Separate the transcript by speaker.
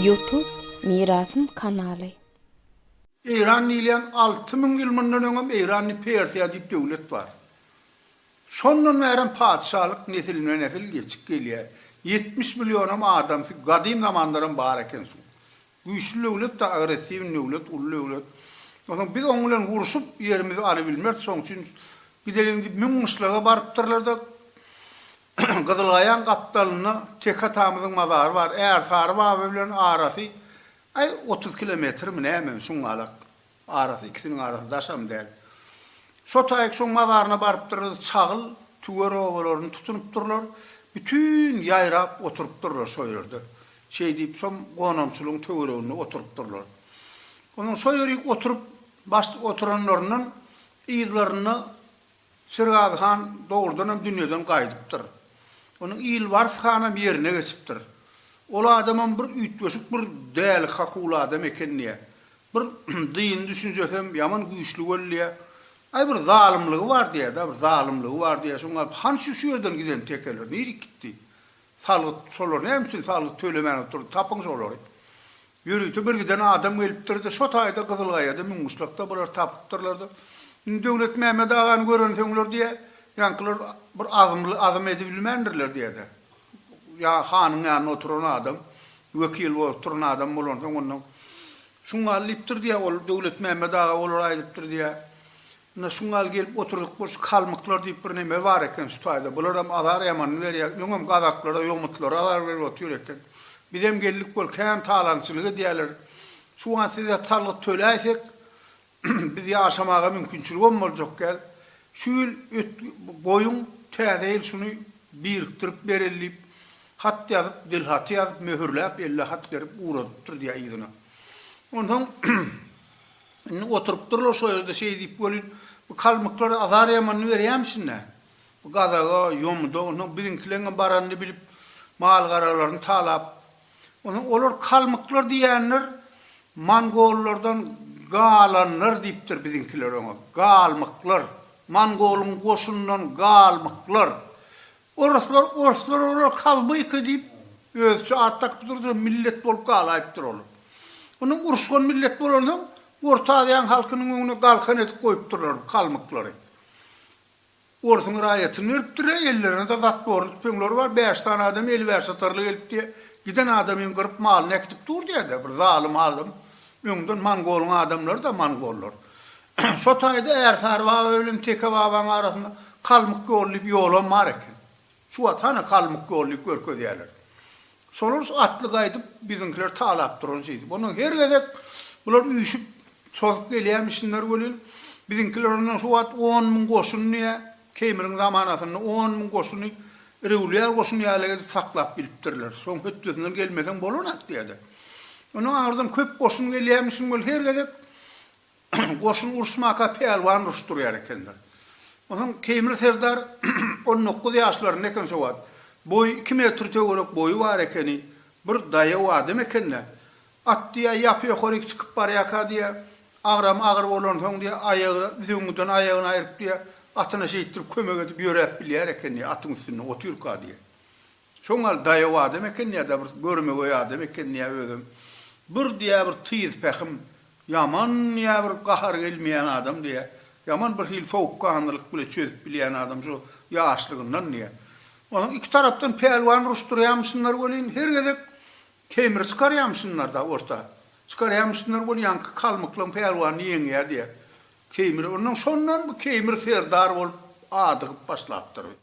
Speaker 1: Youtube Mirasym kanaly.
Speaker 2: Eýran diýilýän alty müň ýyl mundan öňem Eýrany Persiýa diýip döwlet bar. Şondan bärem patyşalyk nesilme-nesil geçip gelýär. Ýetmiş millionam adamsy gadym zamandaram bar eken şuň. Güýçli döwlet da agressiwni döwlet, uly döwlet. Onsoň biz oň bilen urşup ýerimizi alybilmeris, şoň üçin gideliň diýip müň gyşlaga barypdyrlar-da, Gyzylgaýaň gapdalynda Tek atamyzyň mazary bar, Ärsary baba bilen arasy, aý, otuz kilometrmi nämemi, şuňňalak. Arasy ikisiniň arasy daşam däl. Şo taýyk şoň mazaryna barypdyrys, çagyl, tüwer obalaryny tutunypdyrlar, bütin ýaýrap oturypdyrlar şo ýerde. Şeý diýip şom gonamçylygyň töwereginde oturypdyrlar. Onsoň şo ýerik oturyp, baş oturanlaryndan yzlarynda Şirgazy han dogrudanam dünýeden gaýdypdyr. Onuň Ilbars hanam ýerine geçipdir. Ol adamam bir üýtgeşik bir däli-kakul adam eken diýýä. Bir dyny düşünjesem ýaman güýçli boldy diýýä. Aý bir zalymlygy bar diýýä-dä, bir zalymlygy bar diýýä. Şoňa galyp han şu şu ýerden giden tekeler nirik gitdi? Salgyt şolar näme üçin salgyt tölemän oturdy? Tapyň şolary. Ýörite bir giden adam gelipdir-de, şo taýda Gyzylgaýada müňguşlakda bulary tapypdyrlar-da, indi Döwletmämmet agany görensoňlar diýe, ýaňkylar bir azmly azm edibilmändirler diýe-de, ýa hanyň ýanynda oturan adam, wekil bolup duran adam bolansoň ondan, şuňňal diýipdir diýe, ol Döwletmämmet aga olara aýdypdyr diýe, Ynha, şu gal gelip oturdyk bolşy kalmyklar diýip bir neme bar eken şu taýda. Bularam azar ýamanyny berýär. Öňem gazaklara, ýomutlara azar berip otyr eken. Bizem geldik bol kän talaňçylyk edýärler. Şu wagt size salgyt töläýsek, biz ýaşamaga mümkinçiligem boljak däl. Şu ýyl ötgi goýuň, täze ýyl şuny birikdirip bereli diýip, hat ýazyp, dilhaty ýazyp, möhürläp, elle hat berip ugradypdyr diýýär yzyna. Onsoň, Indi oturypdyrlar şo ýerde şeý diýip welin, bu kalmyklar azar ýamanyny berýämişin-dä. Bu gazaga, ýomuda, onsoň biziňkileňňe baranyny bilip, mal-garalaryny talap. Onsoň olar kalmyklar diýýänler mongollardan galanlar diýipdir biziňkiler oňa. Galmyklar. Mongolyň goşunyndan galmyklar. Oruslar orslar olar kalbyka diýip özüçe at dakyp durdy millet bolup galaýypdyr olar. Ony uruşgan millet bolansoň orta aziýaň halkynyň öňüne galkan edip goýupdyrlar kalmyklary. Orsuň raýatyny beripdir e ellerinde zatborly tüpeňleri bar bäş sany adam eli bäş atarly gelip diýe giden adamyň gyryp malyny äkidip dur diýede bir zalym alym öňden mongolyň adamlary da mongollar Şo taýda Ärsary baba bilen Teke babanyň arasynda Kalmyk ýoly diýip ýolam bar eken. Şu wagt hany Kalmyk ýoly diýip görkezýärler. Şolar şu atly gaýdyp biziňkileri talap duran şeýdip. Ondan her gezek bular üýşüp, çozup gelýärmişinler welin, biziňkiler ondan şu wagt on müň goşun diýä, Keýmiriň zamanasynda on müň goşuny rewlýar goşuny ýaly edip saklap bilipdirler. Soň hötdesinden gelmeseň bolanak diýerdi. Ondan aňyrdan köp goşun gelýärmişin welin, her gezek Goşun uruşmaka pälwan ruş durýar ekenler. Onuň Keýmir serdar on dokuz ýaşlarynda eken şo wagt. Boýy iki metr töwerek boýy bar ekeni. Bir daýaw adam eken-dä. At diýýä ýapy ýokaryk çykyp barýaka diýýä. Agramy agyr bolansoň diýýä aýagy büzüwüňden aýagyny aýryp diýýä atyna şeýtdirip kömek edip ýöräp bilýär eken diýýä atyň üstünde otyrka diýýä. Şoň gal daýaw adam ekeni ýa-da bir görmegeý adam ekeni ýa özem bir diýä bir tyz pähim ýaman ýa bir gahar gelmeýän adam diýä ýaman bir hili sowukganlylyk bile çözüp bilýän adam şu ýaşlygyndan diýä. Onuň iki tarapdan pälwan uruşdyrýamyşynlar welin her gezek kemri çykarýamyşynlarda orta çykarýamyşynlar weli ýaňky kalmyklaň pälwany ýeňýä diýä. Kemri ondan şondan bu kemri serdar bolup adygyp başlapdyr.